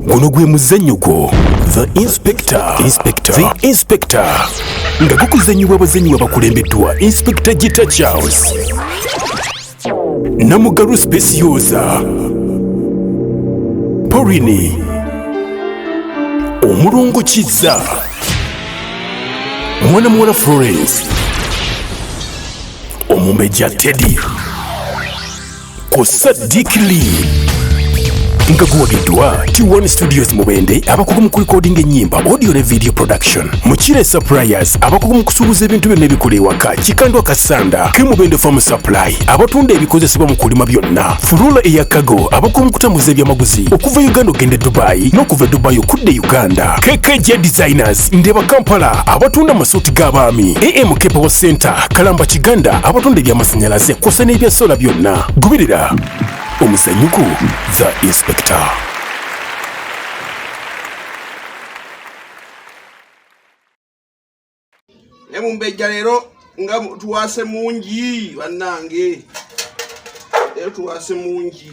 guno gwe muzannyo gwo the inspector inspector the inspector nga gukuzannyibwa abazannyi babakulembeddwa inspector gita charles namugalu specioza porini omulongo kizza mwana muwala florence omumbejja teddy ku Sadiq Lee nga guwagiddwa T1 Studios Mubende abakugu mu kulikodinga ennyimba audio ne video production Mukire Suppliers abakugu mu kusuubuza ebintu byonna ebikola ewaka Kikandwa Kasanda ke Mubende Farm Supply abatunda ebikozesebwa mu kulima byonna Fulula eya Cargo abakugu mu kutambuza ebyamaguzi okuva Uganda okugenda e Dubai n'okuva e Dubai okudda e Uganda KKJ Designers Market, Ndeba Kampala abatunda amasuuti g'abaami, AM Kepewo Center, Kalamba Kiganda abatunda eby'amasannyalaze kw'ossa n'ebya sola byonna. Goberera omuzanyuko The Inspector. naye mumbejja leero nga tuwaase mungi bannange leero tuwaase mungi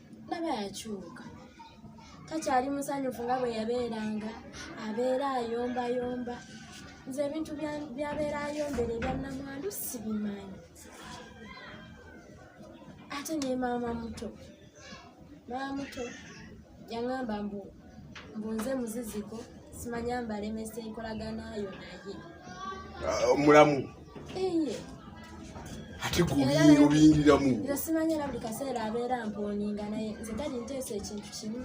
laba yakyuka takyali musanyufu nga bwe yabeeranga abeera ayombayomba nze ebintu byabeera ayombera ebyannamwandu sibimanyi ate ne maama muto maama muto yaŋamba mbu mbu nze muziziko simanya mbalemesa enkolagana yo naye ah, mulamu ate gobiyobiyingiramu nze simanya era buli kaseera abeera mponinga naye nze gadi nteesa ekintu kimu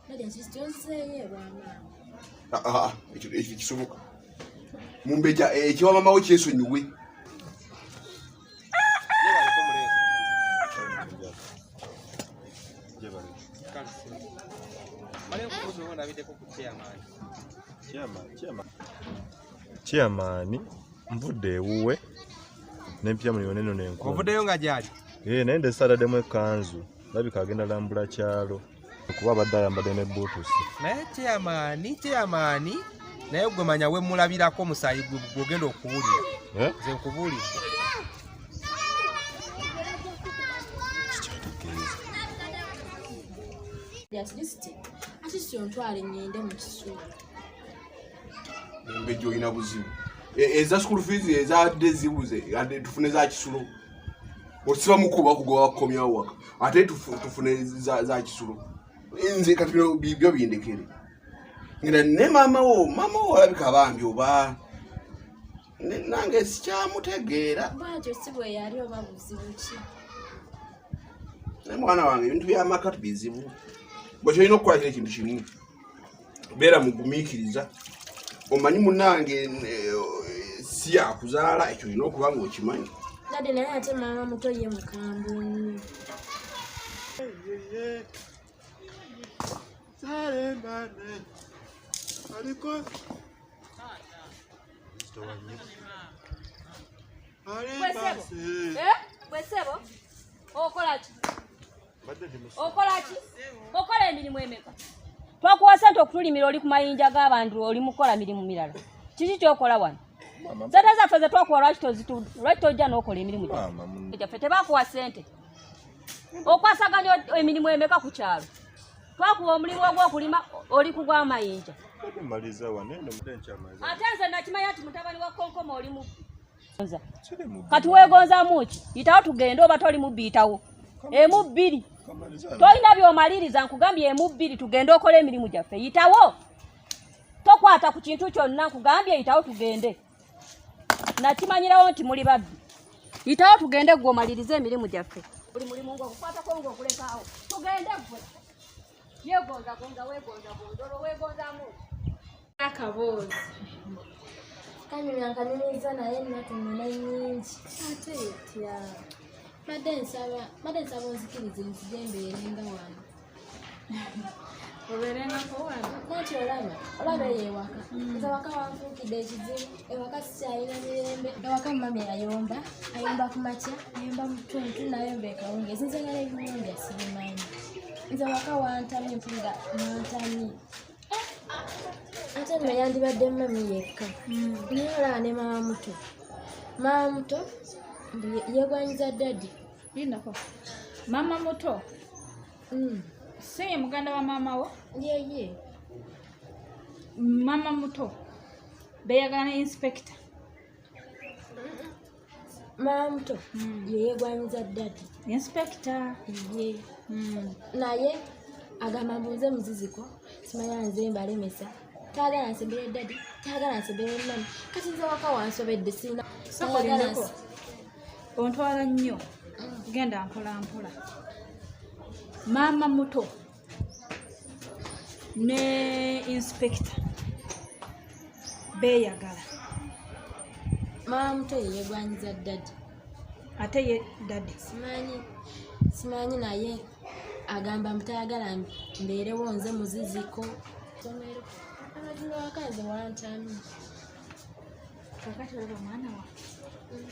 gadi ekikyonseeyo ebwamaama ah, ah, ekyo kisoboka mumbeja ekiwamamawo eh, kyesonyiwe chairman nvudde ewuwe nempya muli yoneno nenkuovudeyo nga gyali ee eh, naye nde salademu ekanzu labika agenda lambula kyalo kuba abadde ayambadde ne buutusi naye kyeyamaani kyeyamaani naye gwe manya wemulabirako omusaayi gwogenda okuwulira eh? nze nkubuulidde embejja olina buzibu e, eza school fees ezadde zibuze adde tufune za kisulo osiba mukubo bakugoba bakukomyawo waka ate tufune za kisulo nze kati bino byo bindekere ngenda ne maama wo maama wo olabika bambi oba nange sikyamutegeera bwatyo si bwe yali oba buzibu ki naye mwana wange ebintu byamaka tubizibu bwekyolina okukola kino ekintu kimu beera mugumiikiriza omanyi munange eh, si yakuzaala ekyo olina okuba nga okimanyi kade naye ate maama muto ye mukambwe nnyo Kwesebo? Eh? Kwesebo? Okolaki? Oh, okola ki okola emirimu emeka twakuwa sente okutulimira oli ku mayinja g'abantu oli mukukola mirimu mirala kiki kyokola wano sente zaffe zetwakuwa lwaki tojja n'okola emirimu gyaffe tebakuwa sente okwasaganya emirimu emeka ku kyalo twakuwa omulimu ogw'okulima oli kugwa amayinja ate nze nakimanya nti mutabani wa konkoma oli mubbi kati wegonzamu ki yitawo tugende oba toli mubbiyitawo emu bbiri tolina byomaliriza nkugambye emu bbiri tugende okola emirimu gyaffe yitawo tokwata ku kintu kyonna nkugambye yitawo tugende nakimanyirawo nti muli babbi yitawo tugende gwe omalirize emirimu gyaffe buli mulimu ngaogukwatako ngaogulekaawo tugende gwe yegonzagonza wegonzagonza olwo wegonzamu akaboozi kanyumya nkaniriza naye natunula nyingi ate etya mbadde nsaba mbadde nsaba onzikirize nzija embeerenga wano obeerengako wano nanti olaba olaba eyo ewaka nze waka wanfuukidde ekizibu ewaka sikyalina mirembe ewaka mumami ayomba ayomba ku makya ayomba mu ttuntu nayomba ekawungeezi nze ngala ebiwunja sibimanyi nze waka wantamye mpulira nantamye ate nno yandibadde mumami yekka hmm. naye olaba ne maama muto maama muto yegwanyiza dadi inako maama muto hmm. si ye muganda wa maama wo yeye yeah, yeah. mama muto beyagala ne inspekita mama muto hmm. yeyegwanyiza dadi inspekita ye hmm. naye agamba mbuuze muziziko simanya nze mbalemesa tayagala nsembere dadi tayagala nsembere mama kati nze waka wansobedde sirina ontwala nnyo hmm. genda mpolampola maama muto ne inspector beeyagala maama muto yeyegwanyiza dadi ate ye dadi simanyi simanyi naye agamba mutayagala mbeerewo nze muziziko somero amazima wakanze wantami kakati olaba mwana wa mm.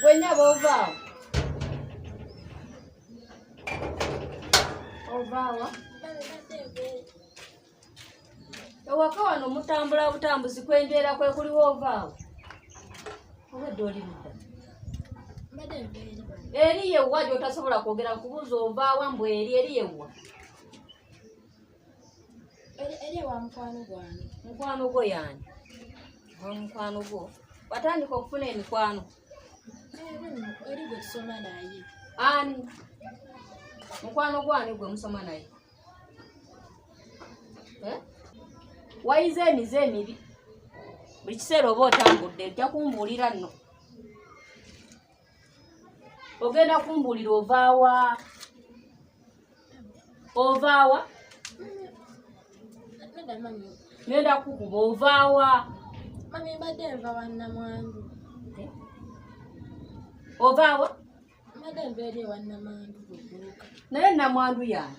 Gwenya bova. Ovawa. Ewaka wano mutambula butambuzi kwenjera kwe kuli wovaawo. Obadde oli ludda. Eri yewwa gy'otasobola kwogera kubuuza ovaawa mbu eri eri yewwa. eri ewa mukwano gwange mukwano gwo yani wa mukwano gwo watandika okufuna emikwano eri gwe tusoma naye ani mukwano gwani gwe musoma naye eh? wayize emize emibi buli kiseera oba otambudde ojja kumbuulira nno ogenda kumbuulira ovaawa ovaawa ngenda kukuba ovaawa mami mbadde nva wannamwandu eh? ovaawa mbadde nva eri ewannamwandu naye namwandu yaani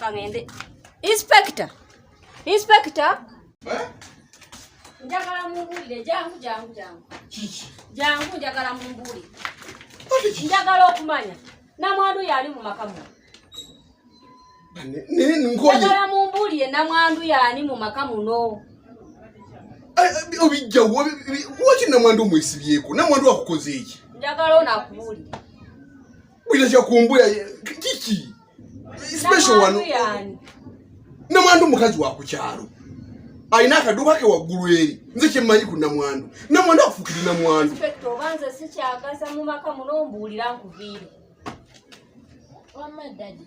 kangende inspector inspector eh? njagala mumbuulire jangu jangu jangu jangu njagala mumbuulire njagala okumanya namwandu yaali mu maka muno njagala mumbuulire namwandu yaani mu maka muno obijjawo waki namwandu omwesibyeko namwandu akukoze eki njagala onakubuulire bwira kyakumbuya kiki special wano namwandu mukazi wa kukyalo alina akaduuka ke waggulu eri nze kyemmanyi ku namwandu namwandu akufukiri namwandu oba nze sikyagasa mu maka muno mbuulira nkuviire wamma ddadi